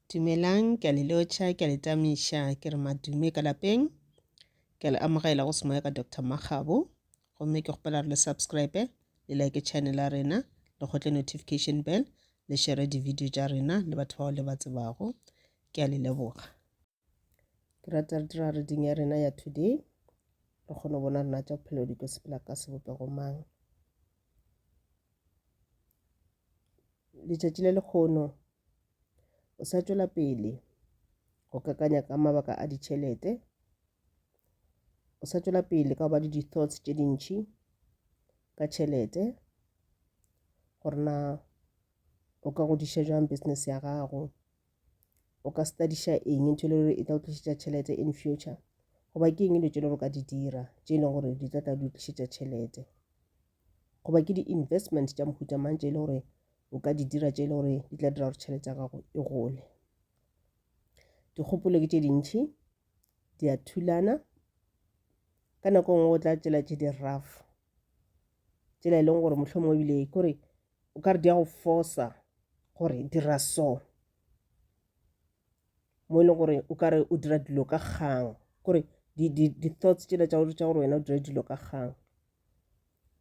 Dumelang, ke a le lotšha, ke a le tamiša, ke re madume ka lapeng. Ke a le amogela go semoya ka Doctor Makgabo. Gomme ke kgopela re le subscribe, le like channel ya rena, le kgotle notification bell, le share di-video tša rena le batho bao le ba tsebago. Ke a le leboga. ke rata re dira reading ya rena ya today re kgone go bona rena tša bophelo di tlo sepela ka sebopego mang letšatši le lekgono o sa tšwela pele go kakanya ka mabaka a ditšhelete o sa tšwela pele ka go ba le di-thoughts tše dintšhi ka tšhelete gore na o ka godiša jang business ya gago o ka studiša eng ntho e le gore e tla o tlišetša tšhelete in future goba ke eng dilo tše le gore ka di dira tše e leng gore di tla tla di tlišetša tšhelete goba ke di-investment tša mohuta mang tše e le gore o ka di dira tše e le gore di tla dira gore tšhelete ya gago e gole dikgopolo ke tše dintšhi di a thulana ka nako e nngwe o tla tšela tše di-rough tsela e leng gore mohlomong ebile kore o ka re di a go fosa gore dira so mo e leng gore o ka re o dira dilo ka kgang kore di-thoughts tšela tša gore tša gore wena o dira dilo ka kgang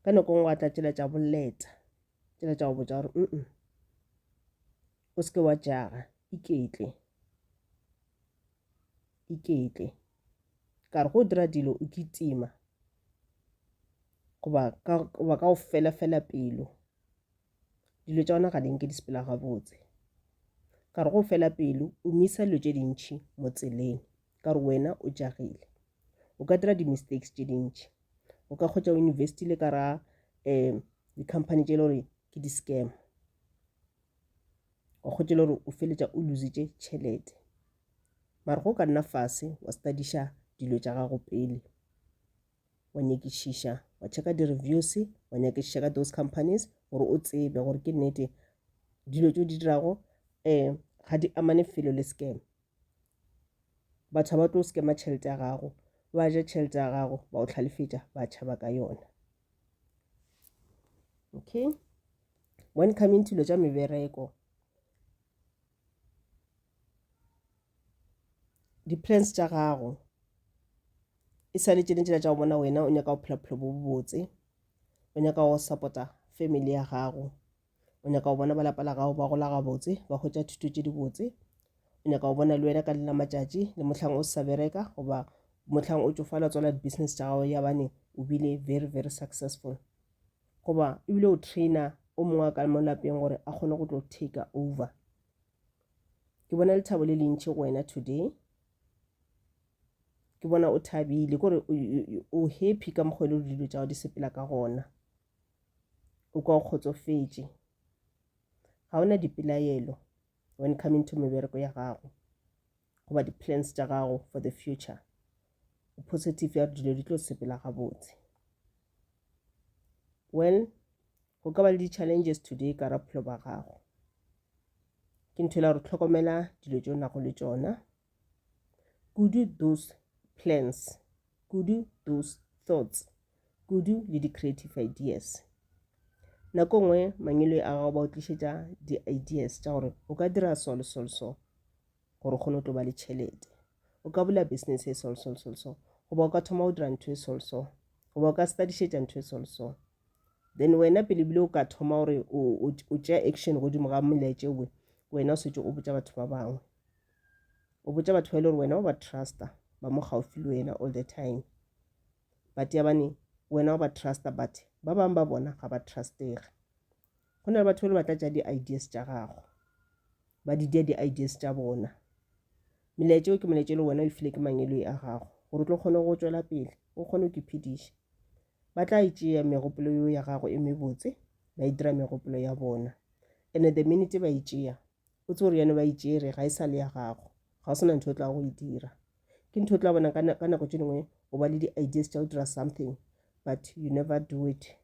ka nako ngwe wa tla tšela tša boleta tšela tša go botsa gore mm o seke wa jaga iketle iketle ka re go dira dilo o kitima goba ka goba ka go fela fela pelo dilo tša ona ga di nke di sepela gabotse ka re go fela pelo o misa dilo tše dintšhi mo tseleng ka re wena o jagile o ka dira di-mistakes tše dintšhi o ka kgotsa o investile ka ra um di-company tše e le gore ke di-scam wa kgotsa e le gore o feletša o lositše tšhelete mara go ka nna fase wa studiša dilo tša gago pele wa nyakišiša wa checka di-reviews wa nyakišiša ka those companies gore o tsebe gore ke nnete dilo tse o di dirago um ga di amane felo le scam batho ba tlo scama tšhelete ya gago ba ja tšhelete ya gago ba o tlhalefetša ba tšhaba ka yona okay when coming to lo tša mebereko Di-plans tša gago e sa le tšene tšela tša go bona wena o nyaka go phela bophelo bo bobotse, o nyaka go support-a family ya gago, o nyaka go bona ba lapa la gago ba gola gabotse ba hwetša thuto tše dibotse, o nyaka go bona le wena ka lela matšatši le mohlang o sa bereka goba mohlang o tšofala tswala di-business tša gago ya bane o bile very very successful. goba ebile o trainer o mongwe a ka mo lapeng gore a kgone go tlo take over ke bona lethabo le lentši go wena today ke bona o thabile kore o happy ka mokgwa e le gore dilo tša go di sepela ka gona o kwa o kgotsofetše ga o na dipelaelo when coming to mebereko ya gago goba di-plans tša gago for the future o positive ya dilo di tlo sepela gabotse well go ka ba le di-challenges today ka ra bophelo ba gago ke ntho e la gore tlhokomela dilo tse o nago le tsona kudu those plans kudu those thoughts kudu le di-creative ideas nako nngwe mangelo a gago ba o tlišetša di-ideas tša gore o ka dira so le so le so gore o kgone go to ba le tšhelete o ka bula business e sol sol sol so goba o ka thoma go dira ntho e sol so goba o ka studišetša ntho e sol so then wena pele bile o ka thoma gore o tšea action godimo ga molaetše we wena o setse o botša batho ba bangwe o botša batho ba e le gore wena o ba trusta ba mo gaufi le wena all the time but yabane wena o ba trusta but ba bangwe ba bona ga ba trustege Go na le batho ba le ba tlatša di-ideas tša gago, ba di dia di-ideas tša bona. Melaetša eo ke molaetša le wena o e file ke mangeloi a gago gore o tlo kgone go tšwela pele o kgone go iphediša. Ba tla e tšea megopolo yeo ya gago e mebotse ba e dira megopolo ya bona. And the minute ba e tšea o tse gore yone ba e tšere ga e sa le ya gago, ga o sena ntho o tla go e dira. Ke ntho o tla bona ka nako tše dingwe o ba le di-ideas tša go dira something but you never do it.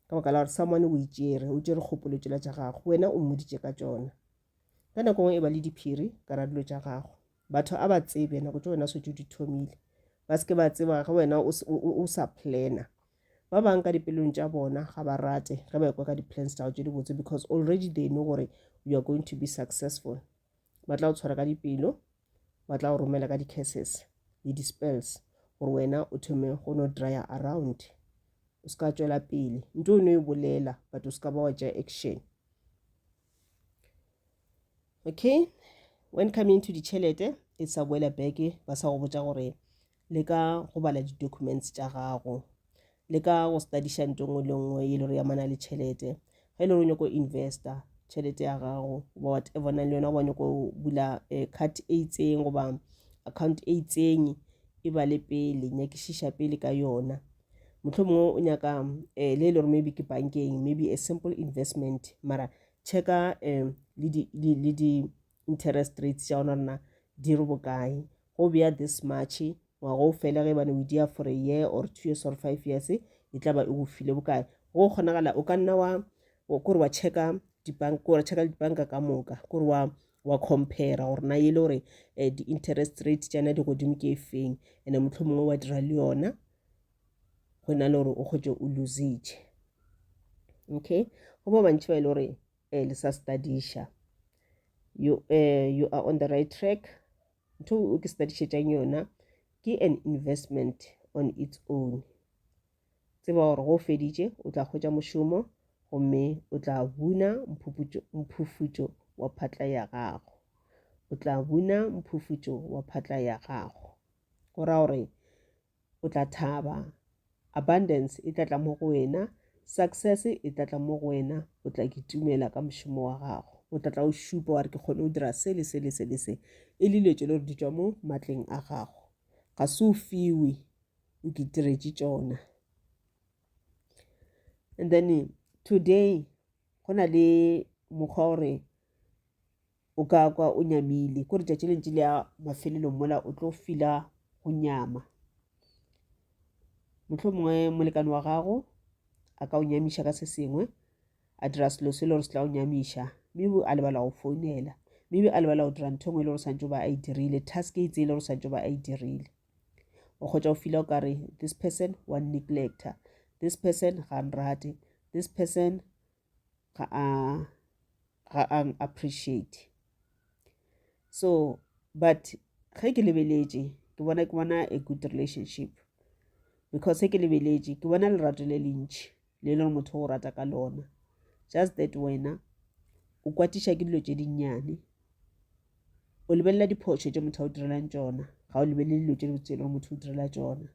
ka baka la gore someone o itšere o tšere kgopolo tšela tša gago wena o mmoditše ka tšona ka nako ngwe e ba le diphiri ka ra dilo tša gago batho a ba tsebe nako tša wena setse di thomile ba seke ba tseba ge wena o sa plana ba bang ka dipelong tša bona ga ba rate ge ba ekwa ka di-plans tšago tše dibotse because already they know gore you are going to be successful ba tla o tshwara ka dipelo ba tla go romela ka di-curses le di-spells gore wena o thome go no dryer around o se ka tswela pele nto o no e bolela but o se ka ba wa tša action okay when coming to ditšhelete e sa boela beke ba sa go botsa gore leka go bala di-documents tša gago leka go studiša nto nngwe le nngwe e le gore yamana le tšhelete ge e le gore o nyako investa tšhelete ya gago goba whatever nang le yona goba nyako bula eh, card e itseng goba account e itseng e ba le pele nyakišiša pele ka yona motlho mongwe o nyaka um le e le gore maybe ke bankeng maybe a simple investment mara checka um le di interest rates tša ona rena di re bokae go bea this march ngwaga o fele ge bane o dia for a year or two years or five years e tla ba e go file bokae go kgonagala o ka nna wa kore wa checka dibanka kore checka dibanka ka moka kore wa wa compare gore na e le gore um di-interest rate tšana di godimo ke e feng and-e motlho mongwe wa dira le yona go na le gore o kgotse o lositše okay go ba bantši ba e le gore eh, le sa studiša you, uh, you are on the right track ntho o ke studišetšang yona ke an investment on its own tseba gore go feditše o tla kgwetša mošomo gomme o tla buna mphufutšo wa phatla ya gago o tla buna mphufutšo wa phatla ya gago go ra gore o tla thaba. Abundance e tla tla mo go wena. Success e tla tla mo go wena. O tla kitumela ka mošomo wa gago. O tla tla o šupa wa re ke kgone go dira se le se le se le se. E le dilo tše le gore di tšwa mo matleng a gago. Ga se o fiwe, o kitiretše tšona. And then today go na le mokgwa gore O ka kwa o nyamile, ko letšatši le ntši le ya mafelelong mola o tlo fila go nyama. Motlho mongwe molekane wa gago a ka o nyamiša ka se sengwe, a dira selo se le gore se tla o nyamiša, maybe a lebala go founela, maybe a lebala go dira ntho engwe e le gore santse ba a e dirile, task e itseng e le gore santse ba a e dirile. O kgotsa o fila o kare this person wa neglecta, this person ga nrate, this person ga a ga a appreciate so but ge ke lebeletše ke bona ke bona a good relationship because ge ke lebeletše ke bona lerato le lentši le e lego motho o rata ka lona just that wena o kwatiša ke dilo tše dinnyane o lebelela diphošo tše motho a o direlang tšona ga o lebelele dilo tše dibotse e lego motho o direla tšona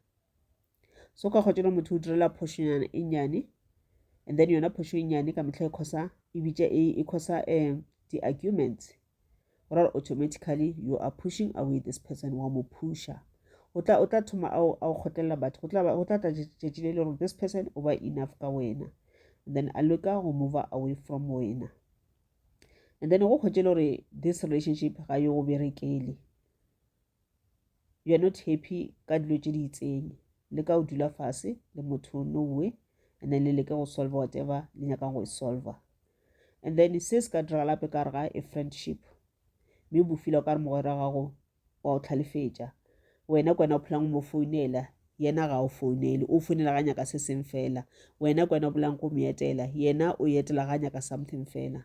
so ka kgwatšana motho o direla phošonyana e nnyane and then yona phošo e nnyane ka metlha e khosa e bitša e e khosa um eh, di-arguments go ra automatically you are pushing away this person wa mo pusha o tla o tla thoma a o kgotlelela batho go tla tla tšatši le le gore this person o ba enough ka wena and then a leka go move away from wena and then go kgwetše le gore this relationship ga yo go berekele you are not happy ka dilo tše di itseng le ka o dula fase le motho no way and then le leke go solve whatever le nyakang go e solve and then se se ka diragala gape ka rega e friendship mme bo fila o ka re mogwera gago wa o tlhalefetša wena kwena o phelang mo founela yena ga o founele o founela ga nyaka se seng fela wena kwena o bolang go mo etela yena o etela ga nyaka something fela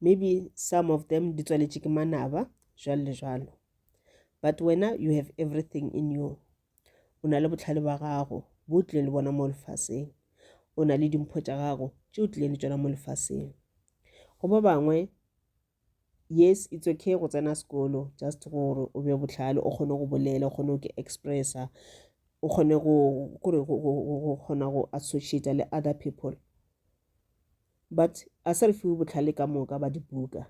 maybe some of them di tswaletše ke manaba jalo le jalo but wena you have everything in you o na le botlhale ba gago bo o tlileng le bona mo lefaseng o na le dimpho tša gago tše o tlileng le tšona mo lefaseng go ba bangwe yes it's okay go tsena sekolo just gore o be botlhale o kgone go bolela o kgone go ke expressa o kgone go kgona go associata le other people but a se re fiwe botlhale ka moka ba dibuka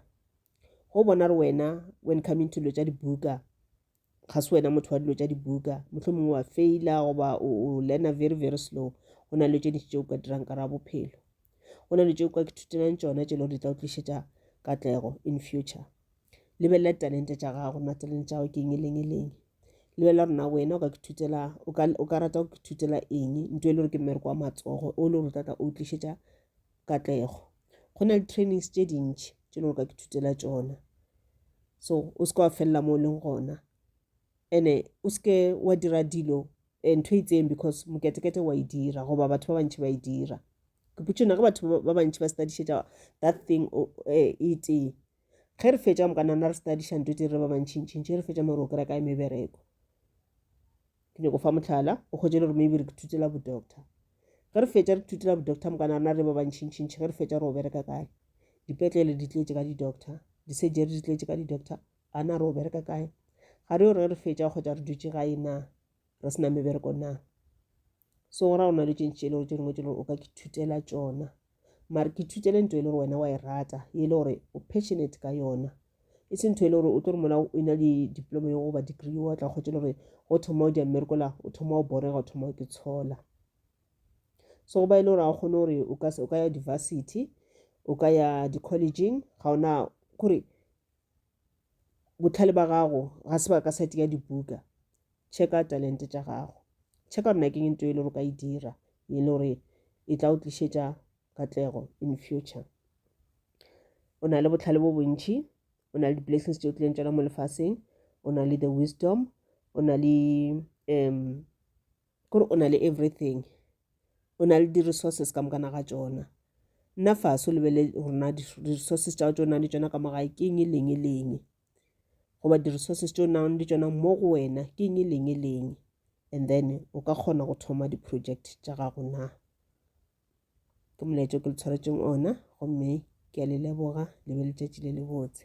go bona re wena when coming to dilo tša dibuka ga se wena motho wa dilo tša dibuka motlho mongwe wa faila goba o learna very very slow go na le tše dintši tše o ka dirang ka ra bophelo go na le tše o ka ithutelang tšona tše le gore di tla o tlišetša katlego in future lebelela ditalente tša gago na talente tša gago ke eng e leng e leng lebelela gore na wena o ka kithutela o ka rata go kithutela eng nto e le gore ke mmereko wa matsogo o le gore o tlatla o tlišetša katlego go na le trainings tše dintšhi tše le gore o ka kithutela tšona so o se ka wa felela mo o leng gona ene o seke wa dira dilo eh, ntho e itseng because moketekete wa e dira goba batho ba bantšhi ba e dira ke putšona ge batho ba bantšhi ba studišetša that thing eh, e tee ge re fetša mo ka nana re studiša nto tse re ba bantšhintšhintši re fetša more o kry-a kae mebereko ke nyako fa motlhala o kgwetse le gore maybe re thutela bodoctor ge re fetša re thutela bodoctor mo ka nana re ba bantšhintšhintši ge re fetša re o bereka kae dipetlele di tletse ka di-doctor di-surgery di tletse ka di-doctor a na re o bereka kae ga re yo re re fetša kgotsa re dutše gae na re sena mebereko na segora go na le tše ntši e le gore tše dingwe tše gore o ka ke thutela tšona mare ke thutele nto e le gore wena wa e rata e le gore o passionate ka yona e se ntho e le gore o tlo re mola o ena le diploma yo goba degree wa tla kgotse le gore go thoma o di amerikola o thoma o borega o thoma o ke tshola so go ba e le gore ga o kgone gore o ka ya university o ka ya di-collegeng ga ona kore bohlale ba gago ga se ba ka sati ya dibuka checka talente tša gago checka gore nakeng into e le gore ka e dira e le gore e tla o tlišetša katlego in future o na le bohlale bo bontšhi o na le di-blessings tše o tlileng tšona mo lefaseng o na le the wisdom o na le um Kore o na le everything. O na le di resources ka mokana ga tšona. Nna faso lebele gore na di resources tša tšona le tšona ka mo gae ke eng e leng e leng. Goba di resources tšeo nang le tšona mo go wena ke eng e leng e leng. And then o ka kgona go thoma di project tša gago na. Ke molaetša o ke le tshwaretšeng ona gomme ke a le leboga le be letšatši le le botse.